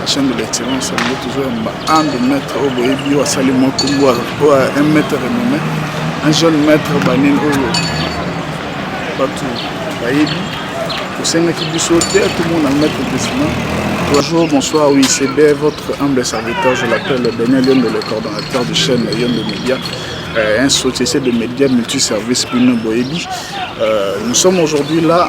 La chaîne de l'excellence alingi toujours yamba un de maître oyo boyebi oyo asali mwa kombo oyo un maître renommé un jeune maître banini oyo bato bayebi osengaki biso te tomona maître desina Bonjour, bonsoir, oui, c'est bien votre humble serviteur, je l'appelle Daniel Yombe, le coordonnateur de chaîne Yombe Media, euh, un société de médias multiservices Bino Boebi. Euh, nous sommes aujourd'hui là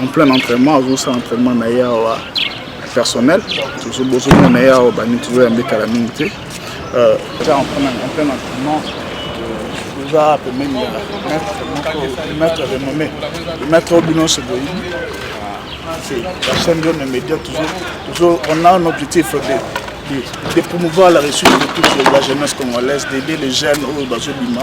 en plein entraînement azosala entraînement na ye awa personnel bozomona ye awa bani tozoyamba etala mingi te euh, eza en plein entraînement toza pembeni ya maître renome maître oyo bino nyonso boyebi la chaîne de nos médias toujours on a un objectif de, de promouvoir la réussite de toute la jeunesse congolaise d'aider les jeunes oyo bazobima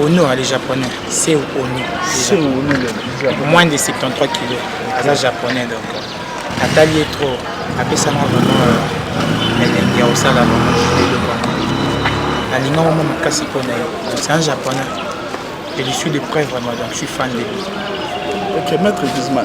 Honor les japonais, c'est Honor. C'est Honor. Moins de 73 kilos. Aza japonais donc. Natali est trop. Apesanga vraiment euh, elengi ya kosala vraiment judele vraiment. Nalinga mama makasi mpo na ye. C'est un japonais. Et je suis de près vraiment donc je suis fan de lui. Ok, maître Guzman.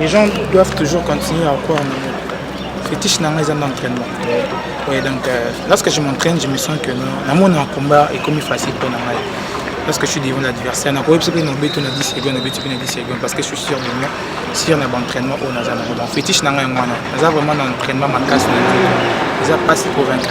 Les gens doivent toujours continuer à croire en moi. Fétiche nanga eza d'entraînement. Ouais, donc euh, lorsque je m'entraîne, je me sens que na mon combat est comme facile pour nanga. Lorsque je suis devant l'adversaire, na koyebisa pe na beto na 10 secondes, na beto pe na 10 secondes parce que je suis sûr de moi, sûr na entraînement au naza na donc fétiche nanga yango wana. Naza vraiment na entraînement makasi na nzela. Eza pas pour vaincre.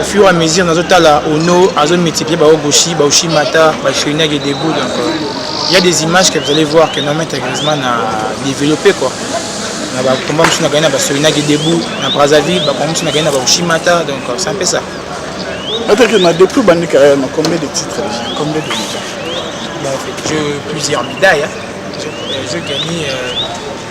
au fur et à mesure nazo tala ono azo multiplier ba ogoshi ba oshimata ba chirina qui debout donc euh, il y a des images que vous allez voir que normalement Griezmann a développé quoi na ba combat musu na gagné na ba chirina qui debout na Brazzaville ba combat musu na gagné na ba oshimata donc euh, c'est un peu ça Nataki na depuis bandi carrière na combien de titres déjà combien de médailles J'ai plusieurs médailles. Hein. J'ai gagné euh,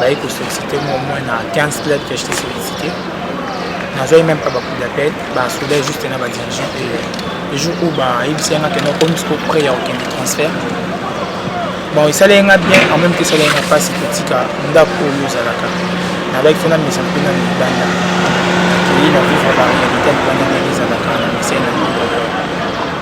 baye kosollicite moi moins na 15 club que jete sollicite nazwaki même pas bacoup d'appel basoda juste na badirigeant le jour oyo bayebisi yanga kende okomi siko près ya kokende transfert bon esalaki nga bien en même te esalaki nga mpasi kotika ndako oyo ozalaka nalaki mpe namisa mpe na libanda akei na vivre baréalité libanda ndenge ezalaka na misai na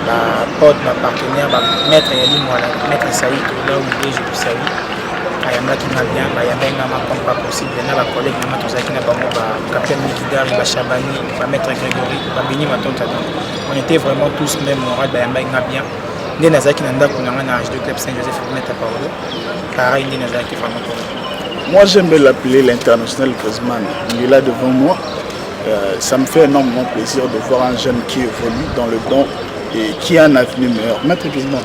bapote bapartenaire bamaître ya limwala maître saito là où je vous salue ayambaki nga bien bayambaki nga macom pas possible na bacollègue nanga tozalaki na bango bacapitaine mikidari bachabani bamaître grégory babini matonta donc on était vraiment tous même moral bayambaki nga bien nde nazalaki na ndako na nga na hdo club saint joseph meta paolo pareil nde nazalaki vraiment po moi j'aime bien l'appeler l'international griezmann il est là devant moi euh, ça me fait énormément plaisir de voir un jeune qui évolue dans le bon et qui a un avenir meilleur maître griezmann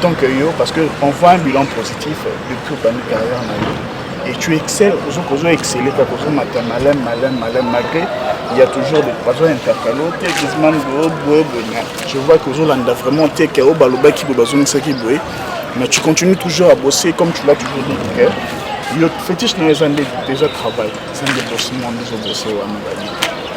tant que yo parce que on voit un bilan positif depuis obandi carrière na yo et tu excelles ozo excelle kaka ozomata malem malem malem malgré il y a toujours des bazo intercale o te grisman boye boye boye mais je vois que ozolanda vraiment te ke oyo balobaki boye bazongisaki boye mais tu continues toujours à bosser comme tu l'as toujours dit que yo fétiche na yo eza nde déjà travail eza nde bosi mwa nde ozobose wana babi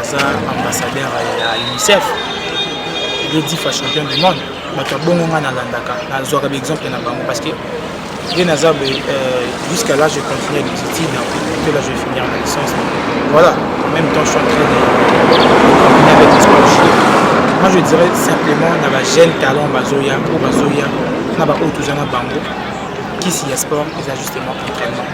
aza ambassadeur ya unicef ye difa champion du monde bato ya bongo ngai nalandaka nazwaka baexemple na bango parce que ye naza euh, jusqu'à là je continue les études que là je vais finir ma licence voilà en même temps je suis en train de combiner avec les sports moi je dirais simplement na ba jeune talent bazoya oyo bazoya na baoyo toza na bango kisi ya sport eza justement entraînement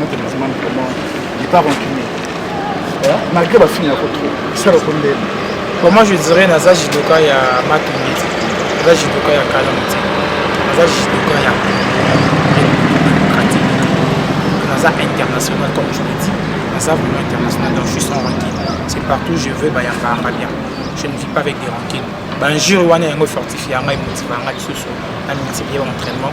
notre musulman vraiment il pas rancunier malgré bafini yako trop esala ko ndele pour moi je dirais naza judoka ya matumiti naza judoka ya kala moti naza judoka ya pratique naza international comme je le dis naza vraiment international donc je suis sans rancune c'est partout je veux bayambanga bien je ne vis pas avec des rancune banjure wana yango fortifie ya ngai motiva ngai lisusu na multiplier entraînement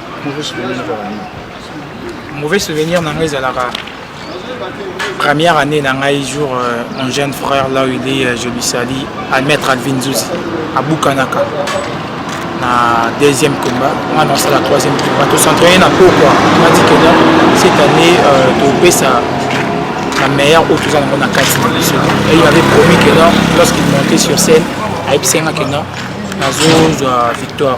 mauvais souvenir ezalaka nini mauvais souvenir na ngai ezalaka première année na ngai jour euh, mon jeune frère là où il est euh, je lui sali almettre alvin zuzi abukanaka na deuxième combat nga na osala troisième combat tocentraye na pokwa mati kena cette année euh, topesa la meilleure oyo toza nango na kati na biso et il avait promis que non lorsqu'il montait sur scène ayebisanga que non nazozwa victoire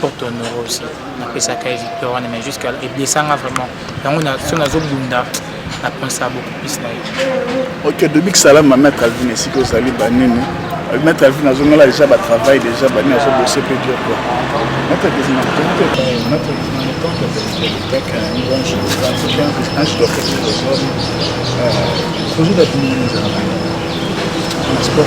pour te honorer aussi napesaka ye victoire wana mais jusqu'à eblesanga vraiment yango so nazobunda napensaka beaucoup plus na ye ok dobi kisalama maître alvin esika ozali banini maître alvin azongala déjà batravail déjà banini azobose mpe dur quoi maître alvin projet d'administration na sport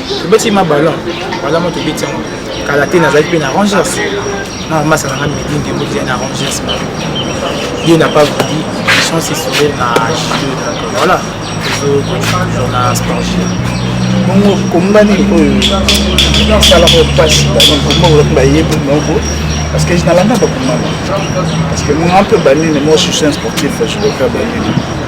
tobeti ma ballon ballon mo tobeti yango kala te nazali mpe na rangers na masa na nga midi ndembo ezali na rangers ma dieu n'a pas voulu chance esourire na jeu donc voilà tozokontinue toujours na sport bongo kombani oyo esalaka mpasi komba olaki bayebi moko parce que nalanda bakomama parce que monga mpe banene moi je suis un sportif je dois faire banene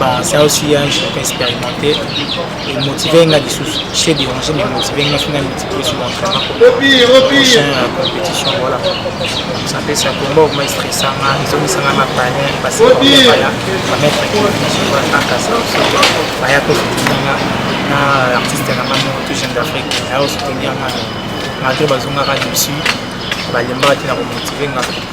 basala osi ya journée expérimenté emotive nga lisusu se dérange mais emotive nga soki na multiplie sur entraînement prochain ya compétition voilà ça fait ça combat okoma estressa nga ezongisa nga na panier parce que baya bamettre kivision voilà kaka ça baya kosoutenir nga na artiste na nga moko tout jeune d'afrique aya kosoutenir nga malgré bazongaka dessus balembaka te na komotive nga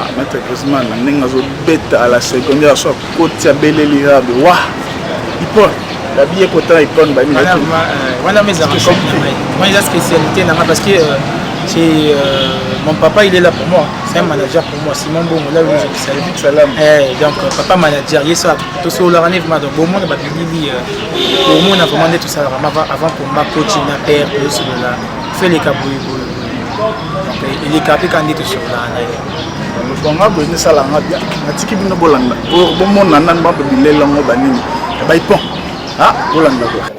Ah, maître Griezmann na ndenge azobeta à la seconde aso akoti abeleli rabe wa ipon babi ekota ipon babi wana mais ezaka moi eza spécialité nanga parce que euh, c'est euh, mon papa il est là pour moi c'est un manager pour moi Simon Bongo là où je suis salut salam eh donc euh, papa manager il est ça tout ça la année vraiment donc bon monde ba bili pour moi on a vraiment tout ça avant pour ma coach na père tout cela fait les cabouilles elikapi kandi tosololaka na ye bonga boye misala nga bia natiki bino bolanda bomona nani bato bilela ngo banini ebai pon a bolanda boye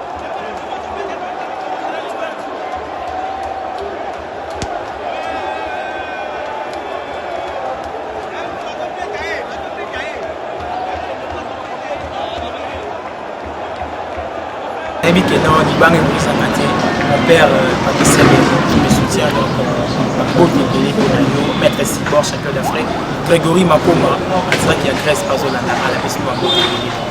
nayebi ke non libanga ekolisaka te mon père euh, patricia qui me soutient donc bakoki euh, ebele mpo na yo maître sibor champion d'afrique grégory makoma azaki ya grèce azolanda ala pesi bango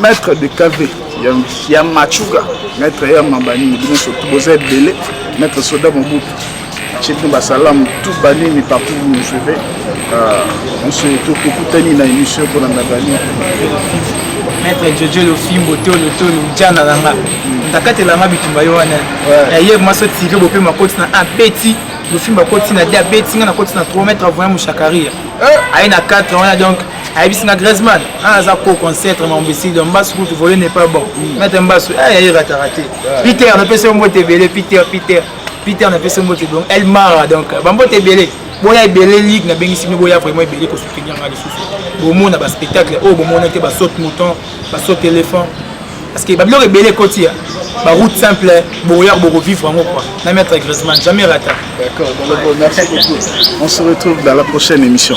Maître de KV ya, ya Machuga, maître ya Mabani, bino soki boza ebele, maître Soda Mobutu, chez nous basalamu tout banini partout vous nous suivez, euh, on se tokutani na émission pour la Mabani. Maître Jojo Lofimbo tolo tolo jana langa. Ndakatela nga bitumba yo wana. Ya hier maso tiré bopé makoti na apeti. Lofimbo akoti na dia beti nga na koti na 3 mètres voyant mushakaria. Aye na 4 wana donc ayebisi nga Griezmann ana ah, aza koko ancêtre ma mbesi donc mbasu kutu volet n'est pas bon mm. maître mbasu ah yaye ratara te ah. Peter na pesa mbote ebele Peter Peter Peter na pesa mbote donc El Mara donc ba mbote ebele boya ebele ligue na bengisi bino boya vraiment ebele ko soutenir nga lisusu bomona ba spectacle oyo oh, bomona te ba saute mouton ba saute éléphant parce que babiloko ebele ekoti ya baroute simple boya bokovivre yango kua na maître Griezmann jamais rata d'accord merci beaucoup on se retrouve dans la prochaine émission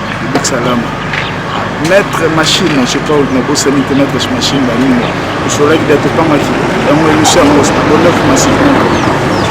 salama maître machine je sais pas nabosani te maître machine baninga osolaki da topangaki yango emission yango abonaki massivement